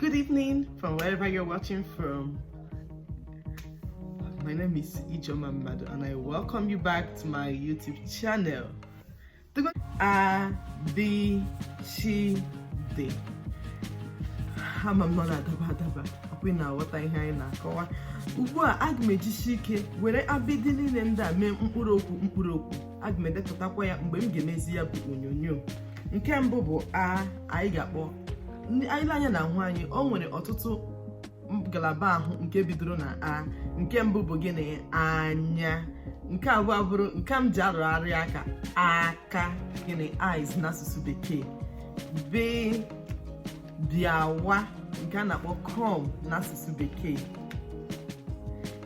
Good evening from wherever you're watching from. My name is Ijeoma Madu and I welcome you back to my YouTube channel. A B C D. Ama m na ọ na-adaba adaba ọkwa ị na-aghọta ihe anyị na-akọwa ugbu a aga m ejisi ike were abịdị niile ndị a mee mkpụrụ okwu mkpụrụ okwu aga m edepụtakwa ya mgbe m ga-emezi ya bụ onyonyo nke mbụ bụ a anyị ga-akpọ anyị lee anya n'ahụ anyị o nwere ọtụtụ ngalaba ahụ nke bidoro na a nke mbụ bụ gịnị anya nke abụọ bụrụ nke m ji arụgharị aka aka gịnị eyes n'asụsụ bekee b bịawa nke a na-akpọ come n'asụsụ bekee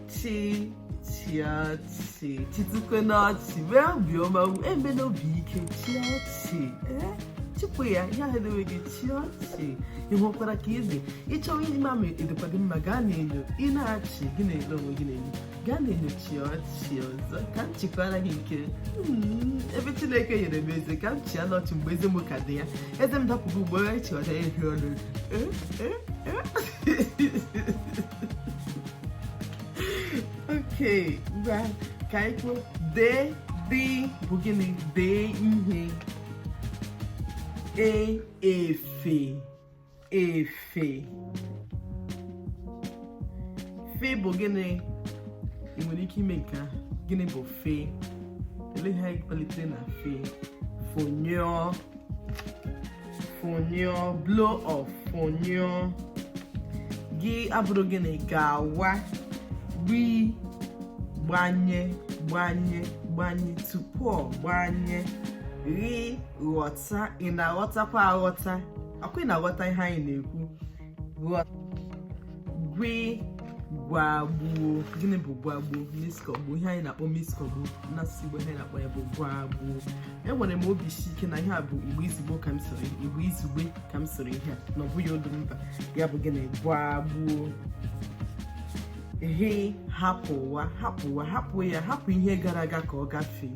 chi chịa ọchị chịtụkwenụ ọchị mee obiọma emena obi ike chịa ọchị ee chịpụ ya ihe ahụ edewe gị chịa ọchị ị hụkwara ka ị dị ị chọwa ịma ma ọ dịkwa gị mma gaa n'enyo ị na-achị gị na-ele onwe gị n'enyo gaa n'enyo chịa ọchị ọzọ ka m chịkwara gị nke m, ebe chineke nyere m eze ka m chịanụ ọchị mgbe eze m ka dị ya eze m dapụgo ugbu a chịọda ya ehi ọnụ Ee, ee, ee. okay ngwa ka anyị kwuo dee dị bụ gịnị dee ihe e efe efe fe bụ gịnị ị nwere ike ime nke ahụ gịnị bụ fe olee ihe anyị kpalitere na fe fụnyụọ fụnyụọ blow off fụnyụọ gị abụrụ gịnị gawa gbi gbanye gbanye gbanye tupu ọ gbanye ghị ghọta ị na-aghọtakwa aghọta ọkwa ị na-aghọta ihe anyị na-ekwu gwi gwagbuo gịnị bụ gwagbuo mixkọgbuo ihe anyị na-akpọ mixkọgbuo na asụsụ Igbo ihe anyị na-akpọ ya bụ gwagbuo enwere m obi isi ike na ihe a bụ igbo izugbe ka m sụrụ igbo izugbe ka m sụrụ ihe a na ọ bụghị olu mba ya bụ gịnị gwagbuo he hapụ ụwa hapụ ụwa hapụ ya hapụ ihe gara aga ka ọ gafee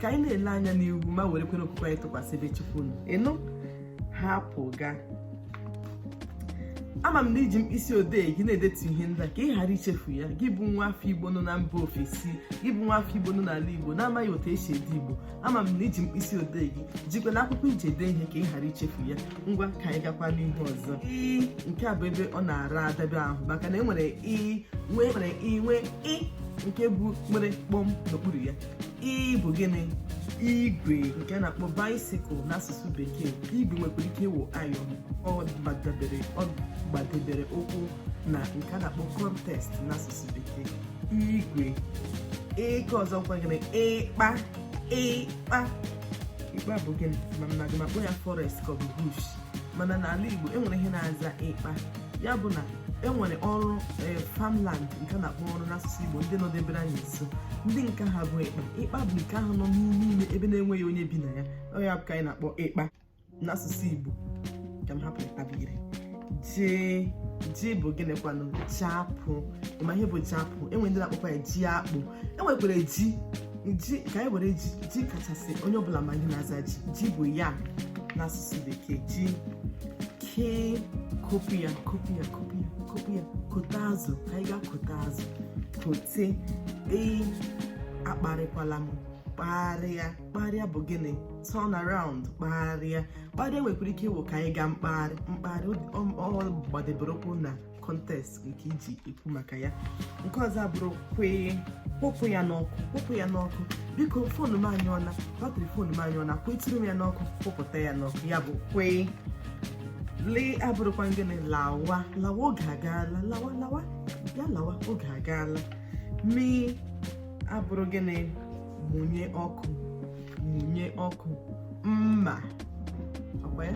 ka anyị na-ele anya n'ihu ma were kwere okwukwe anyị tụkwasị ebe chukwu nọ ị nụ hapụ ga ama m na i ji mkpịsị odee gị na-edetu ihe ndị a ka ị ghara ichefu ya gị bụ nwa afọ igbo nọ na mba ofesi gị bụ nwa afọ igbo nọ n'ala igbo na-amaghị otu esi ede igbo ama m na i ji mkpịsị odee gị jikwa na akwụkwọ i ji ede ihe ka ị ghara ichefu ya ngwa ka anyị gakwa n'ihe ọzọ ii nke a bụ ebe ọ na-ara adabe ahụ maka na enwere ii nwee nwere ii nwee ị nke bụ nwere kpọm n'okpuru ya ii bụ gịnị igwe nke na-akpọ bicycle n'asụsụ bekee igwe nwekwara ike ịwụ iron ọ gbadebere ọ gbadebere ụkwụ na nke a na-akpọ context n'asụsụ bekee igwe nke ọzọ kwa gịnị ịkpa ịkpa ịkpa bụ gịnị amaghị m ma m kpọ ya forest ka ọ bụ bush mana n'ala Igbo enwere ihe na-aza ịkpa ya bụ na enwere ọrụ e, farmland nke na-akpọ ọrụ n'asụsụ Igbo ndị nọdebere anyị nso ndị nke ha bụ ịkpa ịkpa bụ nke ahụ nọ n'ime ime ebe na-enweghị onye bi na ya ọ ya bụ ka anyị na-akpọ ịkpa n'asụsụ Igbo ka m hapụ ịkpa were jee ji bụ gịnịkwanụ ji apụ ị ma ihe bụ ji apụ enwere ndị na-akpọkwa ya ji akpụ enwekwara ji ji ka anyị were ji ji kachasị onye ọbụla ma ihe na-aza ji ji bụ yam n'asụsụ bekee ji kee kopu ya kopu ya kopu ya kopu ya kote azụ ka anyị gaa kote azụ kote ee akparịkwala m kparịa kparịa bụ gịnị turn around kparịa kparịa nwekwara ike ịwụ ka anyị gaa mkparị mkparị ọ gbadebere ụkwụ na context nke iji ekwu maka ya nke ọzọ abụrụ kwee kwụpụ ya n'ọkụ kwụpụ ya n'ọkụ biko phone m anyụọla battery phone m anyụọla kweturu m ya n'ọkụ kwụpụta ya n'ọkụ ya bụ kwee lee abụrụkwa gịnị lawa lawa oge agaala lawa lawa ya lawa oge agaala mee abụrụ gịnị mụnye ọkụ mụnye ọkụ mma ọkwa ya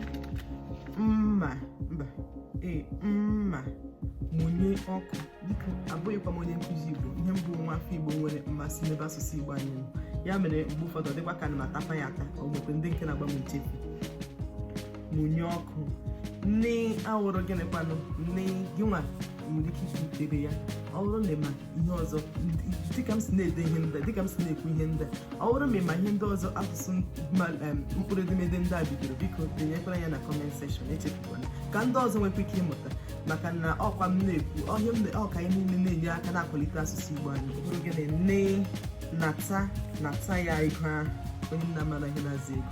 mma mba ee mma mụnye ọkụ biko abụghịkwa m onye nkụzi igbo ihe m bụ nwa afọ igbo nwere mmasị n'ebe asụsụ igbo anyị nọ ya mere mgbe ụfọdụ dịkwa ka ana m atapa ya ata ọ nwekwa ndị nke na-agba m nchefu mụnye ọkụ nne awụrụ gịnịkwanụ nne gị nwa nwere ike ikwu ebe ya ọ bụrụ na ị ma ihe ọzọ dịka m si na-ede ihe ndị dịka m si na-ekwu ihe ndị ọ bụrụ ma ị ma ihe ndị ọzọ asụsụ mkpụrụ edemede ndị a bidoro biko denyekwara ya na comment section echefukwana ka ndị ọzọ nwekwa ike ịmụta maka na ọkwa m na-ekwu ọ ka anyị niile na-enye aka na-akwalite asụsụ Igbo anyị bụrụ gịnị nne nata nata ya ego ahụ onye nna mara ihe na-azụ ego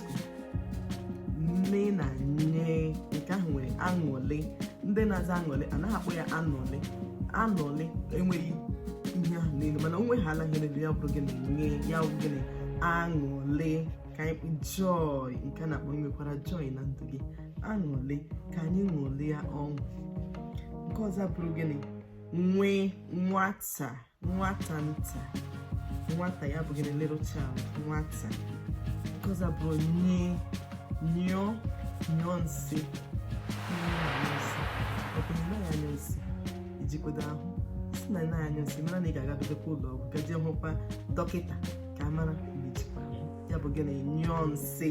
nne na ṅe nke ahụ nwere aṅụlị ndị na-aza aṅụlị anaghị akpọ ya anụlị anụlị enweghị ihe ahụ n'elu mana o nwehala ihe n'elu ya bụrụ gịnị ṅe ya bụ gịnị aṅụlị ka anyị joy nke na-akpọ nwekwara joy na ndụ gị aṅụlị ka anyị ṅụlịa ọṅụ nke ọzọ bụrụ gịnị nwee nwata nwata nta nwata ya bụ gịnị a little child nwata nke ọzọ abụrụ ny nyụọ nyụọ nsị ọ bụ na ịnyụ nsị ejikọdo ahụ sị na anaghị anyụ nsị mara na ị ga-agagodekwa ụlọ ọgwụ gaje hụkwa dọkịta ka a mara ya bụ gịnị nyụọ nsị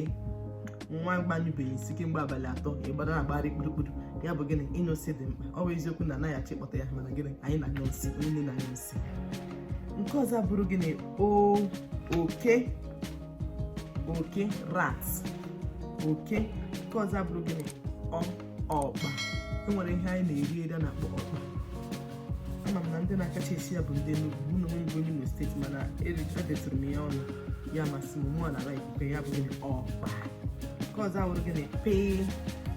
nwa gị anyụbeghị nsị kemgbe abalị atọ ịgbada na agbara kpurukpuru ya bụ gịnị ịnyụ nsị dị mkpa ọ bụ eziokwu na anaghị achọ ịkpọta ya mana gịnị anyị na-anyụ nsị onye niile na-anyụ nsị nke ọzọ bụrụ gịnị o oke oke rat oke nke ọzọ bụrụ gịnị ọ ọkpa enwere ihe anyị na-eri eri a na-akpọ ọkpa ama m na ndị na-akacha esi ya bụ ndị Enugu mụ na onwe m bụ Imo steeti mana edetụrụ m ya ọnụ ya masị m mụ na ala ikuku ya bụ gịnị ọkpa nke ọzọ awụrụ gịnị pee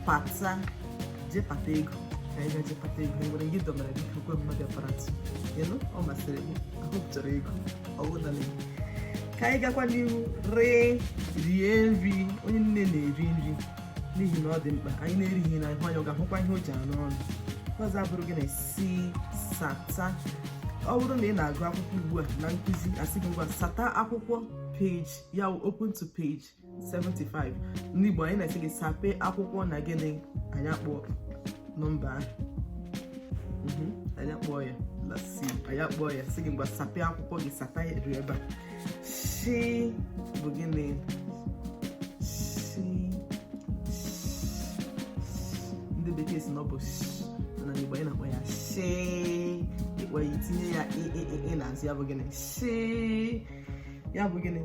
pata jee pata ego ka anyị gaje pata ego e nwere gị dọbara gị ka kwe mmadụ aparatụ ịnụ ọ masịrị gị ahụ chọrọ ego ọwụ na gị ka anyị gakwa n'ihu ree rie nri onye niile na-eri nri n'ihi na ọ dị mkpa onye na-erighị nri anya ọ ga-ahụkwa ihe o ji anọ ọnụ ọzọ abụrụ gịnị si sata ọ bụrụ na ị na-agụ akwụkwọ ugbu a onye nkụzi asị gị ngwa sata akwụkwọ page ya open to page 75 n'igbo anyị na-asị gị sape akwụkwọ na gịnị anyị akpọ nọmba ahụ anyị akpọ ya anyị akpọ ya sị gị ngwa sape akwụkwọ gị sata ya ebe a shi bụ gịnị shi ndị bekee sị na ọ bụ na igbo anyị na-akpọ ya shi ịkpọ ya itinye ya i n'azụ ya bụ gịnị shi ya bụ gịnị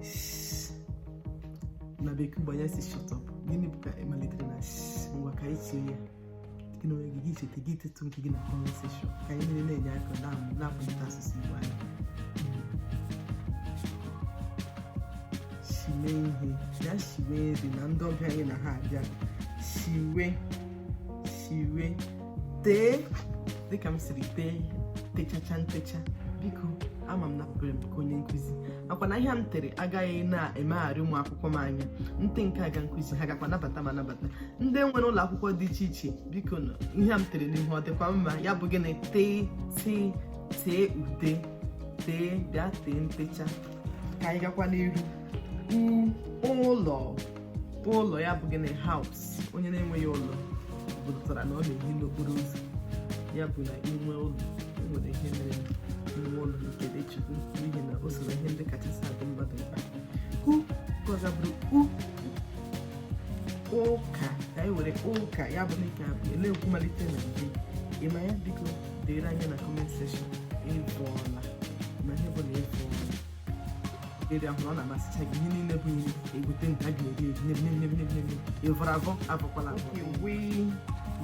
na bekee gbanye shi shut up gịnị bụ ka ịmalitere na ngwa ka anyị tinye ya gị na onwe gị gị cheta gị edetụ nke gị na comment section ka anyị niile na-enye aka na-akwalite asụsụ Igbo anyị shiwe ihe ya shiwe nri na ndị ọbịa anyị na ha abịa shiwe shiwe tee dịka m siri tee techacha ntecha biko ama m na pụrụ m ka onye nkụzi ọ kwa na ihe m tere agaghị na-emegharị ụmụ akwụkwọ m anya nte nke aga nkụzi ha gakwa nabata ma nabata ndị nwere ụlọ akwụkwọ dị iche iche biko na ihe a m tere n'ihu ọ dịkwa mma ya bụ gịnị tee tee tee ude tee bịa tee ntecha ka anyị gakwa n'iru ụlọ ụlọ ya bụ gịnị house onye na-enweghị ụlọ pụtara na ọ na-ehi n'okporo ụzọ ya bụ na inwe ụlọ enwere ihe mere inwe ụlọ nke dị ukwuu n'ihi na o so na ihe ndị kachasị adị mmadụ mkpa nke ọzọ abụrụ u ụka ka anyị were ụka ya bụ dịka na-ekwu malite na mbe ị ma ya biko deere anyị na comment section ịbụọla ma ihe bụ na ịbụọla eri ahụ ọ na-amasịcha gị ihe niile bụ ihe egote nke a ga-eri eri ịvọrọ avọ avọkwala avọ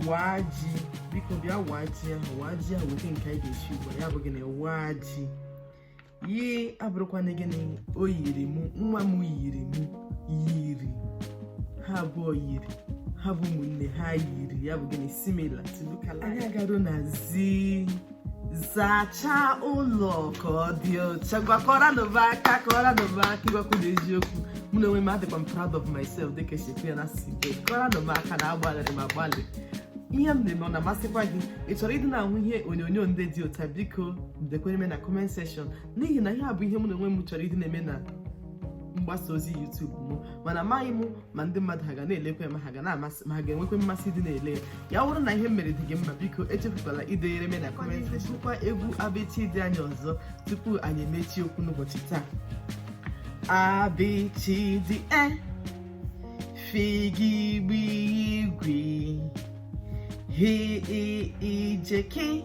waa ji biko bịa waa ji ahụ waa ji ahụ weta nke anyị ga-esi ugbu a ya bụ gịnị waa ji yi abụrụkwana gịnị o yiri mụ nwa m yiri mụ yiri ha abụọ yiri ha bụ ụmụnne ha yiri ya bụ gịnị similar anyị agaruo na zi zachaa ụlọ ka ọ dị ọcha ngwa kụọranụ m aka kụọranụ m aka ịgwakwa unu eziokwu mụ na onwe m adịkwa m proud of myself dịka esi ekwu ya na asụsụ oyibo kụọranụ m aka na agbalịrị m agbalị ihe m na-eme ọ na-amasịkwa gị ị chọrọ ịdị na-ahụ ihe onyonyo ndị dị otu a biko dekwere m na comment section n'ihi na ihe a bụ ihe mụ na onwe m chọrọ ịdị na-eme na mgbasa ozi YouTube m mana amaghị m ma ndị mmadụ ha ga na-elekwa ma ha ga na-amasị ma ha ga-enwekwa mmasị ịdị na-ele ya ọ wụrụ na ihe m mere dị gị mma biko echefukwala ideyere m na comment gụkwa egwu a b ch d anyị ọzọ tupu anyị emechie okwu n'ụbọchị taa a b ch d e f g gb gw h i j k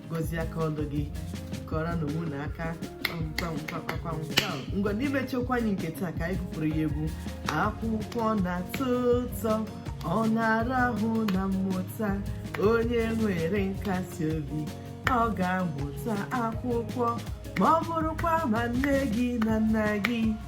gozie aka ọrụ gị kụọrọnụ onwe unu aka ngwa n'imechi okwu anyị nke taa ka anyị gụpụrụ ya egwu akwụkwọ na-atọ ụtọ ọ na-ara ahụ na mmụta onye nwere nkasi obi ọ ga-amụta akwụkwọ ma ọ bụrụkwa ma nne gị na nna gị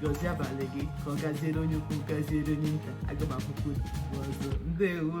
gozie abalị gị ka ọ gaziere onye ukwu gaziere onye nta aga m ahụkwa unu ọzọ ndewo